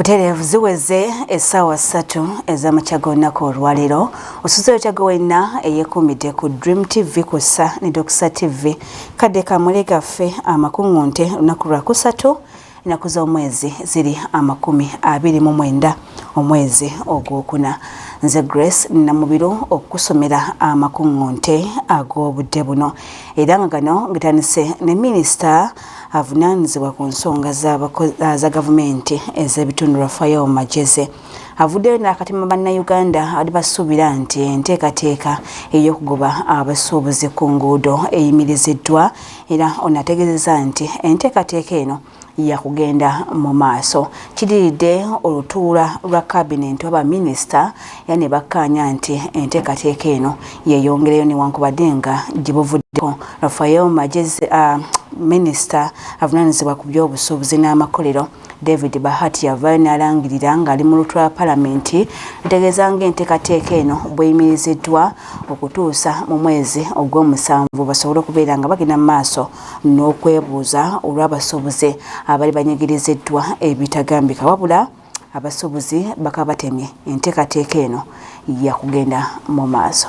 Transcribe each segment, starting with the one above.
butereevu ziweze essaawa ssatu ez'amakyaga olunaku olwaleero osuze otyaga wenna eyekuumidde ku dream tv kussa ne dokisa tv kadde kamule gaffe amakuŋŋunte olunaku lwakusatu ennaku z'omwezi ziri amakumi abiri mu mwenda omwezi ogwokuna nze grace namubiro okukusomera amakuŋŋunte ag'obudde buno era nga gano ngetandise ne minisita avunaanyizibwa ku nsonga za gavumenti ez'ebitundu rafael majeze avuddeyo n'akatima bannayuganda ali basuubira nti enteekateeka ey'okugoba abasuubuzi ku nguudo eyimiriziddwa era ono ategeezeza nti enteekateeka eno yakugenda mu maaso kidiridde olutuula lwa kabinenti oba minisita era ne bakkaanya nti enteekateeka eno yeeyongereyo newankubadde nga gye buvuddeko rafael magezi uh, minisita avunaanyizibwa ku by'obusuubuzi n'amakolero David Bahati yavaayo n'alangirira ng'ali mu lutwe lwa palamenti lutegeeza ng'entekateeka eno bweyimiriziddwa okutuusa mu mwezi ogw'omusanvu basobole okubeera nga bagenda mu maaso n'okwebuuza olw'abasuubuzi abali banyigiriziddwa ebitagambika wabula abasuubuzi bakabatemye entekateeka eno yakugenda mu maaso.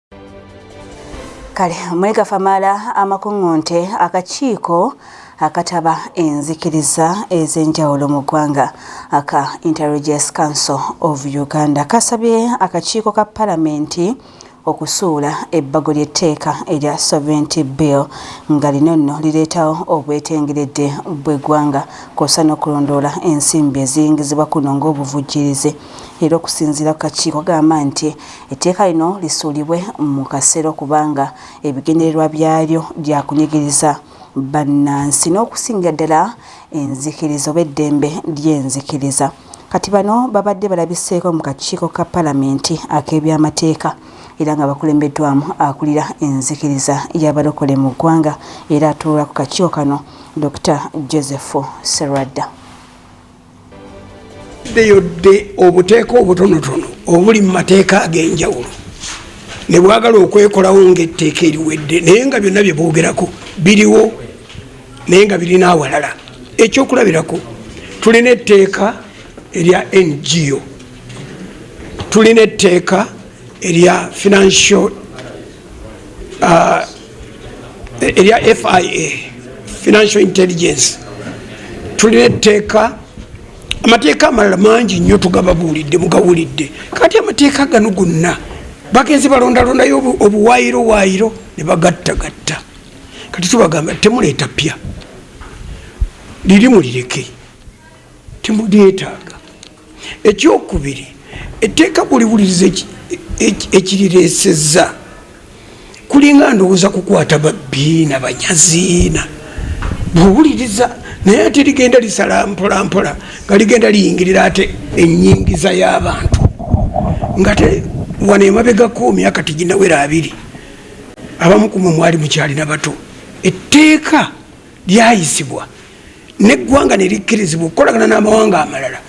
kale mwegafamala amakuŋŋunte akakiiko akataba enzikiriza ez'enjawulo mu ggwanga aka interregious council of uganda kasabye akakiiko ka palamenti okusuula ebbago ly'etteeka erya sovereignty bill nga lino nno lireetawo obwetengeredde bw'eggwanga kwosa n'okulondoola ensimbi eziyingizibwa kuno ng'obuvujjirizi era okusinziira ku kakiiko gamba nti Etteeka lino lisuulibwe mu kasero kubanga ebigendererwa byalyo bya kunyigiriza bannansi n'okusingira ddala enzikiriza oba eddembe ly'enzikiriza. Kati bano babadde balabiseeko mu kakiiko ka palamenti ak'ebyamateeka era nga bakulembeddwamu akulira enzikiriza y'abalokole mu ggwanga era atuula ku kakiiko kano Dokita Joseph Serwadda. ddeyodde obuteeka obutonotono obuli mu mateeka ag'enjawulo ne bwagala okwekolawo ng'etteeka eriwedde naye nga byonna bye boogerako biriwo naye nga birina awalala ekyokulabirako tulina etteeka erya ngo tulina etteeka erya financial uh, erya fia financial intelligence tulina etteeka amateeka amalala mangi nnyo tugababuulidde mugawulidde kati amateeka gano gonna bagenzi balondalondayo obuwayiro wayiro ne bagattagatta kati tubagamba temuleeta pya liri mulireke temulyetaaga ekyokubiri etteeka kuliwuliriza ekirireesezza kulinga ndowooza kukwata babbi na banyaziina bwowuliriza naye ate ligenda lisala mpolampola nga ligenda liyingirira ate enyingiza y'abantu ngate wano emabegako myaka tiginawera abiri abamu kumwe mwali mukyalina bato etteeka lyayisibwa neggwanga nerikkirizibwa okukolagana n'amawanga amalala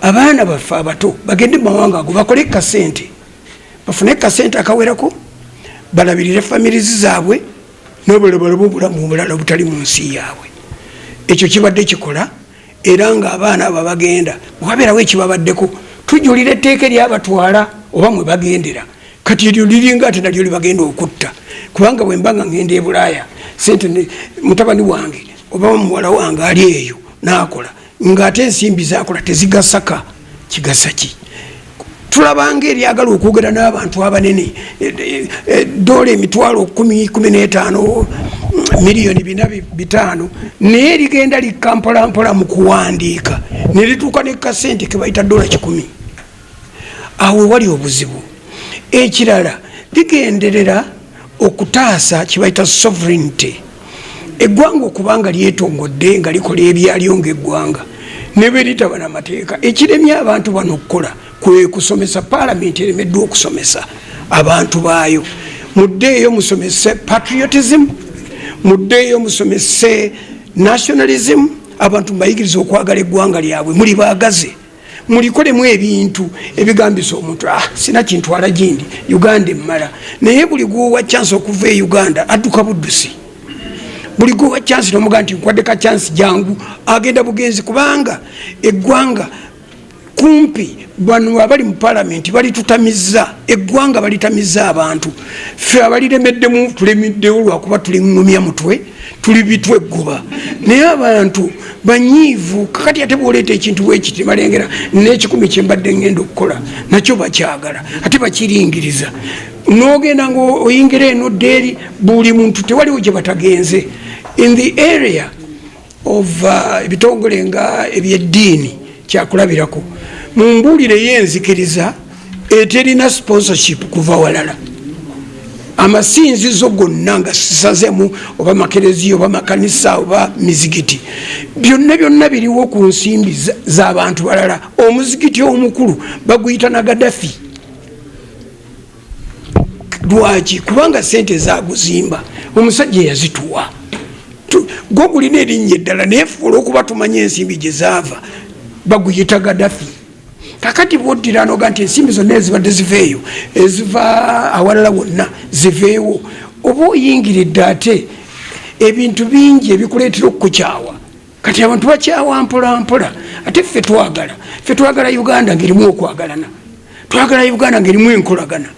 abaana baffe abato bagende mu mawanga ago bakole kasente bafune kasente akawerako balabirire famirizi zaabwe nobulobolobwo obulamu obulala obutali mu nsi yaabwe ekyo kibadde kikola era ng'abaana abo abagenda bwabeerawo ekibabaddeko tujulira etteeka eryabatwala oba mwe bagendera kati eryo liringa ate nalyo libagenda okutta kubanga bwe mba nga ngenda e bulaaya sente mutabani wange oba muwala wange ali eyo naakola ng'ate ensimbi zakola tezigasaka kigasa ki tulabanga eryagala okwogera n'abantu abanene eh, eh, eh, dola emitwalo kumi kumi n'etaano miliyoni bina bitaano naye ligenda likka mpolampola mu kuwandiika ne lituuka ne kasente ke bayita dola kikumi awo wali obuzibu ekirala ligenderera okutaasa kye bayita sovereignty eggwanga okubanga lyetongodde nga likola ebyalyo ngaeggwanga nebweritaba na mateeka ekiremye abantu bano okukola kwekusomesa palamenti eremeddwa okusomesa abantu baayo muddeeyo musomese patriotism muddeeyo musomese nationalism abantu mubayigiriza okwagala eggwanga lyabwe muli baagazi mulikolemu ebintu ebigambisa omuntu ah, sina kintwala gindi uganda emmala naye buli gwowa chance okuva e uganda adduka buddusi buli gwowa chance nomuga nti nkwaddeka chance jangu agenda bugenzi kubanga eggwanga kumpi bano abali mu palamenti balitutamiza eggwanga balitamiza abantu ffe abaliremeddemu tulemiddewo lwakuba tuliŋumya mutwe tuli bitwe ggoba naye abantu banyiivu kakati ate bwoleeta ekintu wekiti balengera nekikumi kyembadde ngenda okukola nakyo bakyagala ate bakiringiriza nogenda nga oyingira eno ddeeri buli muntu tewaliwo gye batagenze in the area of uh, ebitongole nga ebyeddiini kyakulabirako mu mbuulire yenzikiriza eterina sponsorship kuva walala amasinzizo gonna nga sisazemu oba makereziya oba makanisa oba mizigiti byonna byonna biriwo ku nsimbi zabantu balala omuzigiti omukulu baguyita na gadafi lwaki kubanga sente zaguzimba omusajja yazituwa gwe gulina erinnya eddala naye fuula okuba tumanya ensimbi gyezaava baguyita gadafi kakati bwoddira noga nti ensimbi zonna ezibadde ziveeyo eziva awalala wonna ziveewo oba oyingiridde ate ebintu bingi ebikuleetera okukukyawa kati abantu bakyawa mpolampola ate ffe twagala ffe twagala uganda ngaerimu okwagalana twagala uganda ngaerimu enkolagana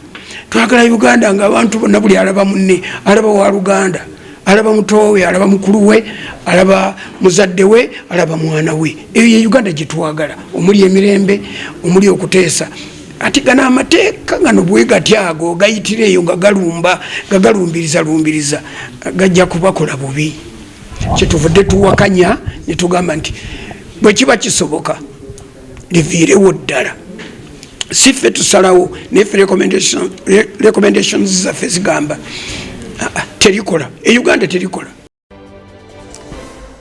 twagala uganda nga abantu bonna buli alaba munne alaba wa luganda alaba mutowe alaba mukulu we alaba muzadde we alaba mwana we eyo ye uganda gyetwagala omuli emirembe omuli okuteesa ati gano amateeka gano bwegati ago gayitira eyo nga galumba nga galumbiriza lumbiriza gajja kubakola bubi kyetuvudde tuwakanya netugamba nti bwekiba kisoboka liviirewo ddala si ffe tusalawo naye fe recommendations zaffe zigamba ah, ah, terikola e uganda terikola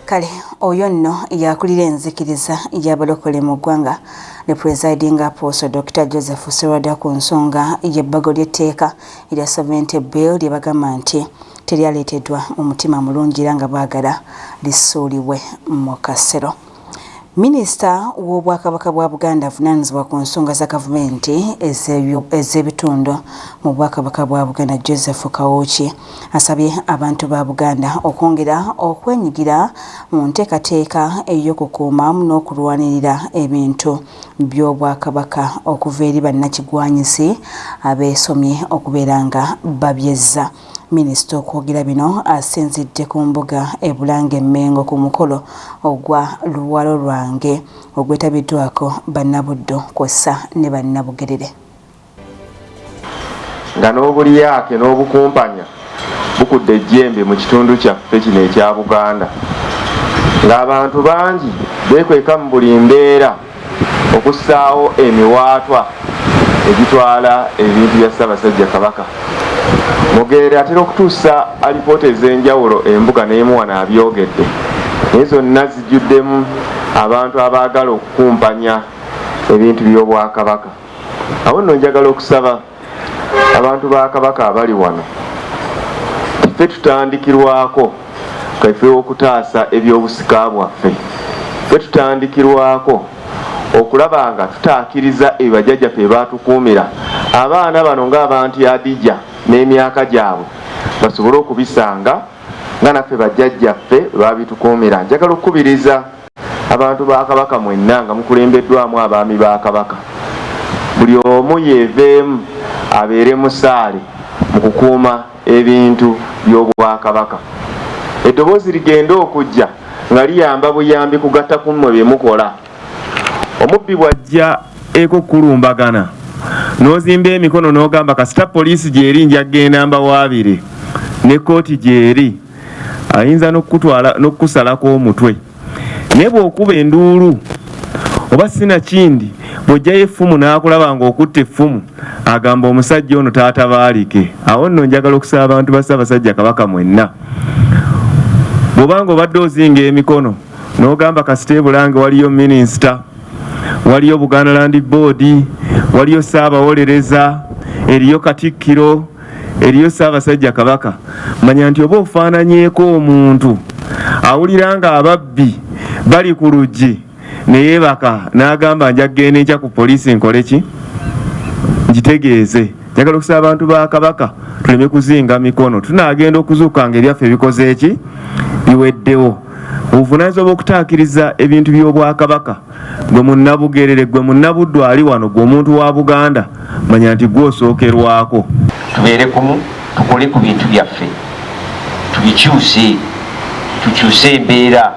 kale oyo nno yakulira enzikiriza yabalokole mu ggwanga ne presiding apostle dr joseph serwada ku nsonga yebbago lyetteeka erya sovereignty bill lye bagamba nti teryaleeteddwa omutima mulungi era nga baagala lisuulibwe mu kasero Minisita w'Obwakabaka bwa Buganda avunaanyizibwa ku nsonga za gavumenti ez'ebitundu mu Bwakabaka bwa Buganda Joseph Kawuki asabye abantu ba Buganda okwongera okwenyigira mu nteekateeka ey'okukuuma n'okulwanirira ebintu by'Obwakabaka okuva eri bannakigwanyizi abeesomye okubeera nga babyezza. Minisita okwogera bino asinzidde ku mbuga e Bulange Mmengo ku mukolo ogwa Luwalo lwange ogwetabiddwako Bannabuddu kwossa ne Bannabugerere. Nga n'obulyake n'obukumpanya bukudde ejjembe mu kitundu kyaffe kino ekya Buganda ng'abantu bangi beekweka mu buli mbeera okussaawo emiwaatwa egitwala ebintu bya Ssaabasajja Kabaka. Mugere atera okutuusa alipoota ez'enjawulo embuga n'emuwana abyogedde naye zonna zijjuddemu abantu abaagala okukumpanya ebintu by'Obwakabaka. Awo nno njagala okusaba abantu ba kabaka abali wano ffe tutandikirwako kaife okutaasa ebyobusika bwaffe ffe tutandikirwako okulaba nga tutaakiriza ebibajajjaffe ebaatukuumira abaana bano ng'abantu yadija n'emyaka gyabwe basobole okubisanga nga naffe bajjajjaffe babitukuumira njagala okukubiriza abantu ba kabaka mwenna nga mukulembeddwamu abaami ba kabaka buli omu yeeveemu abeere musaale mu kukuuma ebintu by'obwakabaka eddoboozi ligenda okujja nga liyamba buyambi kugatta ku mmwe bye mukola omubbi bw'ajja eko kulumbagana n'ozimba emikono n'ogamba kasita poliisi gy'eri nja kgenda mbawaabire ne kkooti gy'eri ayinza n'okukutwala n'okukusalako omutwe naye bw'okuba enduulu oba sinakindi bw'ojjayo effumu n'akulaba ng'okutta effumu agamba omusajja ono taatabaalike awo nno njagala okusaba abantu ba ssaabasajja kabaka mwenna bw'obanga obadde ozinga emikono n'ogamba kasita ebulange waliyo minisita waliyo buganda landi boodi waliyo ssaabawolereza eriyo katikkiro eriyo Ssaabasajja Kabaka, manya nti oba ofaananyeeko omuntu awulira nga ababbi bali ku luggi ne yeebaka n'agamba nja kugenda enkya ku poliisi nkole ki ngitegeeze. Njagala okusaba abantu ba Kabaka tuleme kuzinga mikono, tunaagenda okuzuuka nga ebyaffe bikoze ki biweddewo. Obuvunaanyizibwa bw'okutaakiriza ebintu by'Obwakabaka. gwe munnabugerere gwe munnabuddu ali wano gwe omuntu wa buganda manya nti gwe osookerwako tubeere kumu tukole ku bintu byaffe tubikyuse tukyuse embeera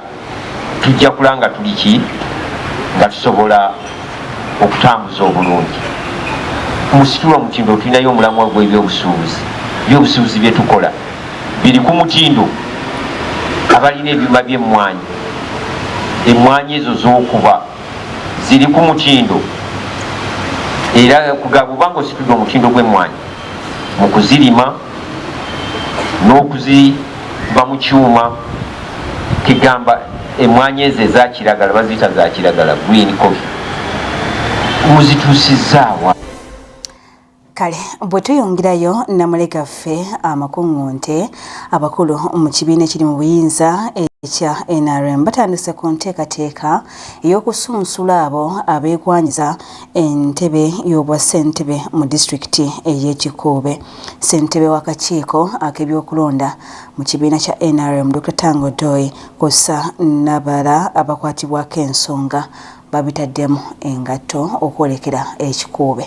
tujja kula nga tuli ki nga tusobola okutambuza obulungi musitula omutindo tulinayo omulamwa gwebyobusuubuzi byobusuubuzi byetukola biri ku mutindo abalina ebyuma by'emmwanyi emmwanyi ezo z'okuba ziri ku mutindo era kugaba oba nga ositudde omutindo gw'emmwanyi mu kuzirima n'okuziva mu kyuma kigamba emmwanyi ezo ezakiragala baziyita zakiragala green coffee muzituusizaawa Kale bwe tuyungirayo Namuleka ffe amakuŋŋunte abakulu mu kibiina ekiri mu buyinza ekya NRM batandise ku nteekateeka ey'okusunsula abo abeegwanyiza entebe y'obwa ssentebe mu disitulikiti ey'e Kikuube. Ssentebe w'akakiiko ak'ebyokulonda mu kibiina kya NRM Dr Tango Doi kw'ossa n'abalala abakwatibwako ensonga babitaddemu engatto okwolekera e Kikuube.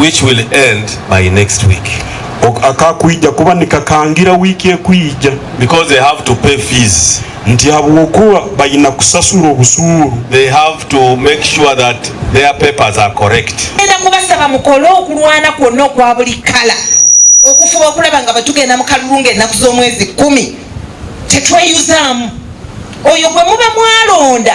which will end by next week akakuija kuba nikakangira wiiki ekuija because they have to pay fees nti habwokuba balina kusasula obusuulu they have to make sure that their papers are correct enda kubasaba mukole okulwana kwonna okwa buli kala okufuba okulaba nga bwetugenda mu kalulu ng'ennaku z'omwezi kumi tetweyuzaamu oyo gwe muba mwalonda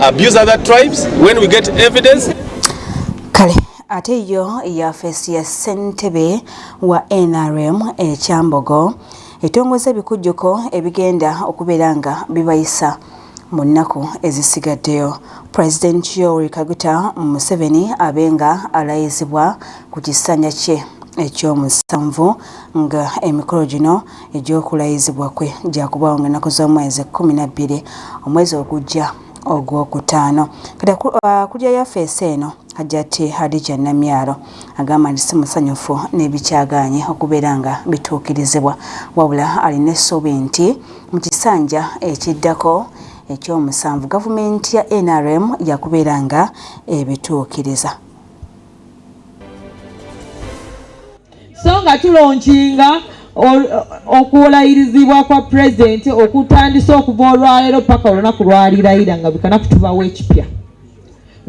abuse other tribes when we get evidence kale ate yo yafeesi ya ssentebe wa nrm ekyambogo etongoza ebikujjuko ebigenda okubeera nga bibayisa mu nnaku ezisigaddeyo president yoweri kaguta museveni abe nga alayizibwa ku kisanja kye ekyomusanvu nga emikolo gino egy'okulayizibwa kwe gyakubaawo nga ennaku z'omwezi ekkumi na bbiri omwezi ogujja ogwokutaano kati akulira uh, yafeesi eno hajati hadija namyalo agamba nti si musanyufu n'ebikyagaanye okubeera nga bituukirizibwa wabula alina essuubi nti mu kisanja ekiddako ekyomusanvu gavumenti ya nrm yakubeera nga ebituukiriza so nga tulonkinga okuwolayirizibwa kwa pulezidenti okutandisa okuva olwaleero paka olunaku lwalirayira nga bikana kutubawo ekipya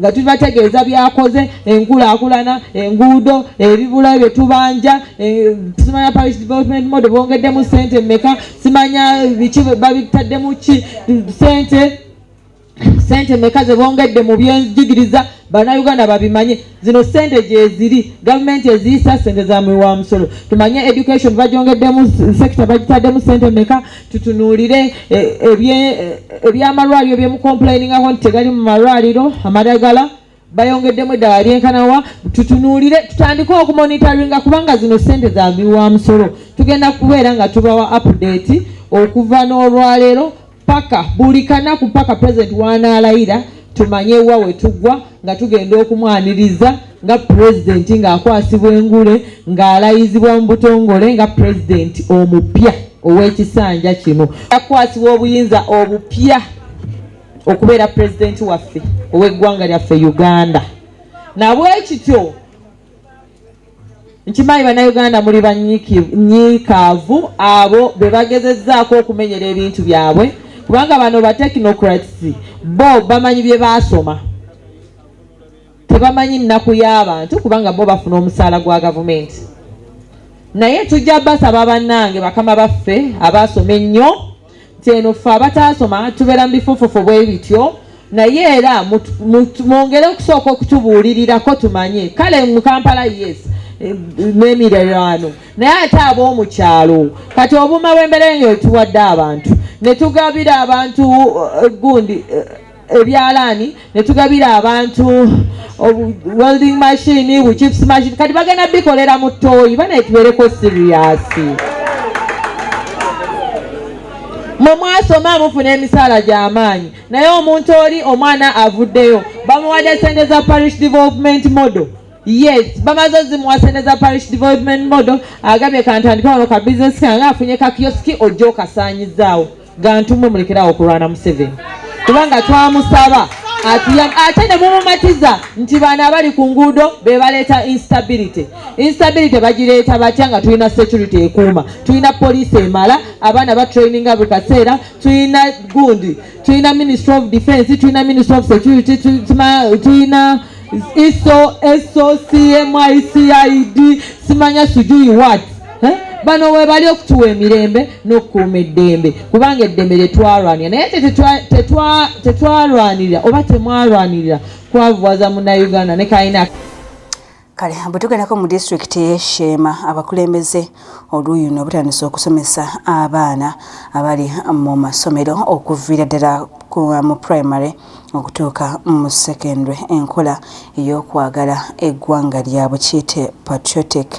nga tubategeeza byakoze enkulaakulana enguudo ebibula bye tubanja e, simanya parish development mode bongeddemu sente meka simanya biki babitaddemu ki sente sente meka zebongedde mu byenjigiriza banauganda babimanye zino sente gyeziri gavumenti eziyisa sente zamuwi wa musolo tumanye education bajongeddemu sekita bagitaddemu sente meka tutunuulire e, e, e, ebyamalwaliro byemukomplainingako nti tegali mu malwaliro amadagala bayongeddemu eddala lyenkanawa tutunuulire tutandike okumonitaringa kubanga zino sente zaviwa musolo tugenda kubeera nga tubawa apudeti okuva n'olwaleero paka buli kanaku paka pulezidenti wanaalayira tumanye wa wetugwa nga tugenda okumwaniriza nga pulezidenti ng'akwasibwa engule ng'alayizibwa mu butongole nga pulezidenti omupya ow'ekisanja kino akwasibwa obuyinza obupya okubeera pulezidenti waffe ow'eggwanga lyaffe uganda nabwekityo nkimanyi bannayuganda muli banyiikaavu abo be bagezezaako okumenyera ebintu byabwe kubanga bano ba technocrats bo bamanyi bye baasoma tebamanyi nnaku y'abantu kubanga bo bafuna omusaala gwa gavumenti naye tujja basaba bannange bakama baffe abaasoma ennyo nti eno ffe abataasoma tubeera mu bifufufu bwe bityo naye era mwongere okusooka okutubuulirirako tumanye kale mu kampala yes eh, n'emirerano naye ate ab'omu kyalo kati obuuma bw'embeera eyo etuwadde abantu ne tugabira abantu eh, gundi eh, ebyalaani ne tugabira abantu welding machine bu chips machine kati bagenda bikolera mu ttooyi banaye tubeereko siriyasi mwe mwasoma mufuna emisaala gy'amaanyi naye omuntu oli omwana avuddeyo bamuwadde sente za parish development model yes bamaze ozimuwa sente za parish development model agambye kantandika wano ka bizinesi kange afunye kakiyosiki ojja okasaanyizaawo gantumwe mulekerawo okulwana museveni kubanga twamusaba ate ne mumumatiza nti baana abali ku nguudo be baleeta instability instability bagireeta batya nga tulina security ekuuma tulina poliisi emala abaana batraininga buli kaseera tulina gundi tulina ministry of defense tulina ministry of security tulina iso eso cmycid simanya sujuyi wat eh? bano webali okutuwa emirembe n'okukuuma eddembe kubanga eddembe tetwalwanira naye tetwalwanirira oba temwalwanirira kwavuwaza munauganda ne kalina kale bwe tugendako mu disitulikiti eyesheema abakulembeze oluuyi no butandise okusomesa abaana abali mu masomero okuviira ddala mu primary okutuuka mu secondary enkola ey'okwagala eggwanga lyabwe kiyite patriotic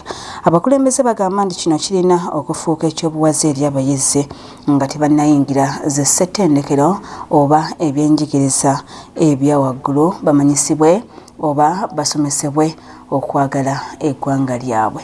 abakulembeze bagamba nti kino kirina okufuuka ekyobuwaze eri abayizi nga tebannayingira ze ssettendekero oba ebyenjigiriza ebya waggulu bamanyisibwe oba basomesebwe okwagala eggwanga lyabwe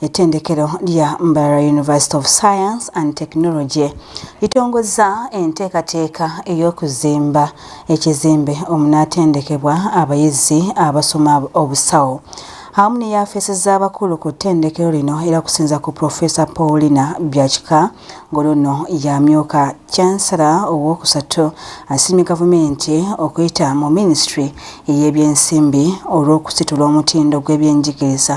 Ettendekero lya Mbarara University of Science and Technology litongozza enteekateeka ey'okuzimba ekizimbe omunaatendekebwa abayizi abasoma obusawo awamu ne yaafeesi z'abakulu ku ttendekero lino era kusinza ku Profesa Paulina Byakika ng'oluno yamyuka chansala ow'okusatu asiimye gavumenti okuyita mu minisitule ey'ebyensimbi olw'okusitula omutindo gw'ebyenjigiriza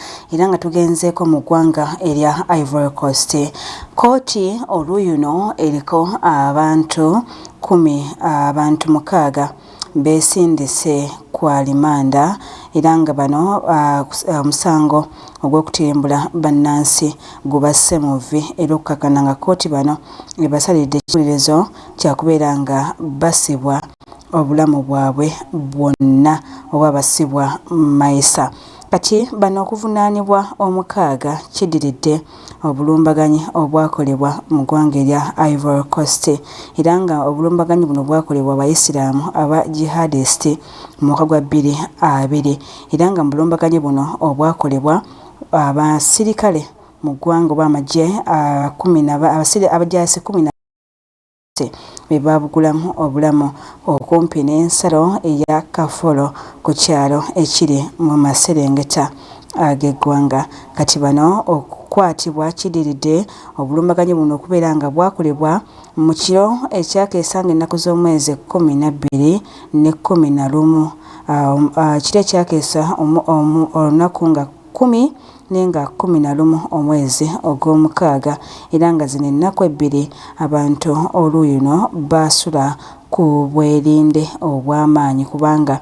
era nga tugenzeeko mu ggwanga erya Ivory Coast kkooti oluyuno eriko abantu kumi abantu mukaaga beesindise ku alimanda era nga bano ah, ah, omusango ogw'okutimbula bannansi gubasse mu vvi era okukakana nga kkooti bano ebasalidde ekiwulirizo kyakubeera nga basibwa obulamu bwabwe bwonna oba basibwa mayisa. Kati bano okuvunaanibwa omukaaga kidiridde obulumbaganyi obwakolebwa mu gwanga erya Ivory Coast era nga obulumbaganyi buno bwakolebwa abayisiraamu aba jihadist mu mwaka gwa bbiri abiri era nga mu bulumbaganyi buno obwakolebwa abasirikale mu ggwanga oba amagye abajasi kumi Poliisi be baabugulamu obulamu okumpi n'ensalo eya Kafolo ku kyalo ekiri mu maserengeta ag'eggwanga. Kati bano okukwatibwa kiddiridde obulumbaganyi buno okubeera nga bwakolebwa mu kiro ekyakeesa ng'ennaku z'omwezi kkumi na bbiri ne kkumi na lumu. Ah, um, ah, kiro ekyakeesa olunaku nga kkumi ne nga kkumi na lumu omwezi ogw'omukaaga, era nga zino ennaku ebbiri abantu oluuyi luno baasula ku bwerinde obw'amaanyi kubanga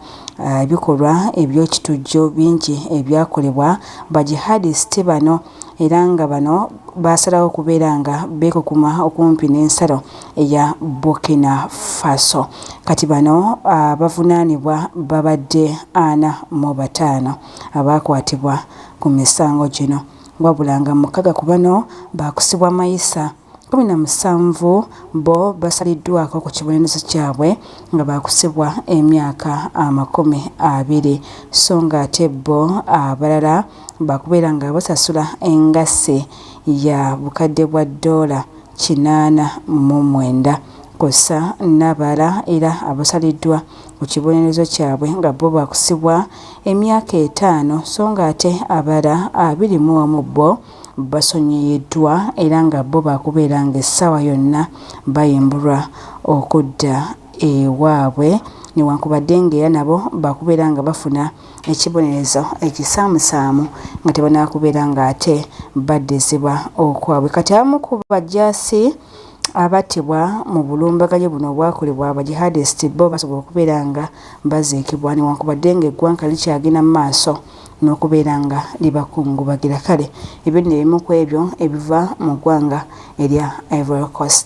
ebikolwa eby'ekitujju bingi ebyakolebwa Bajihadisiti bano era nga bano baasalawo okubeera nga beekukuma okumpi n'ensalo eya Burkina Faso. Kati bano abavunaanibwa babadde ana mu bataano. abaakwatibwa ku misango gino wabula nga mukaga ku bano baakusibwa mayisa, kkumi na musanvu bbo basaliddwako ku kibonerezo kyabwe nga baakusibwa emyaka amakumi abiri sso nga ate bbo abalala baakubeera nga basasula engassi ya bukadde bwa ddoola kinaana mu mwenda kwossa n'abalala era abasaliddwa mu kibonerezo kyabwe nga bbo bakusibwa emyaka etaano so nga ate abala abiri mu omu bbo basonyiyiddwa era nga bbo bakubeera nga essaawa yonna bayimbulwa okudda ewaabwe newankubadde nga era nabo bakubeera nga bafuna ekibonerezo ekisaamusaamu nga tebanakubeera nga ate baddizibwa okwabwe kati abamu ku bajaasi abattibwa mu bulumbaganyi buno obwakolebwa abajihadist bo basobola okubeera nga baziikibwa newankubadde nga eggwanga likyagenda mu maaso n'okubeera nga libakungubagira kale ebyo nno ebimu ku ebyo ebiva mu ggwanga erya Ivory Coast.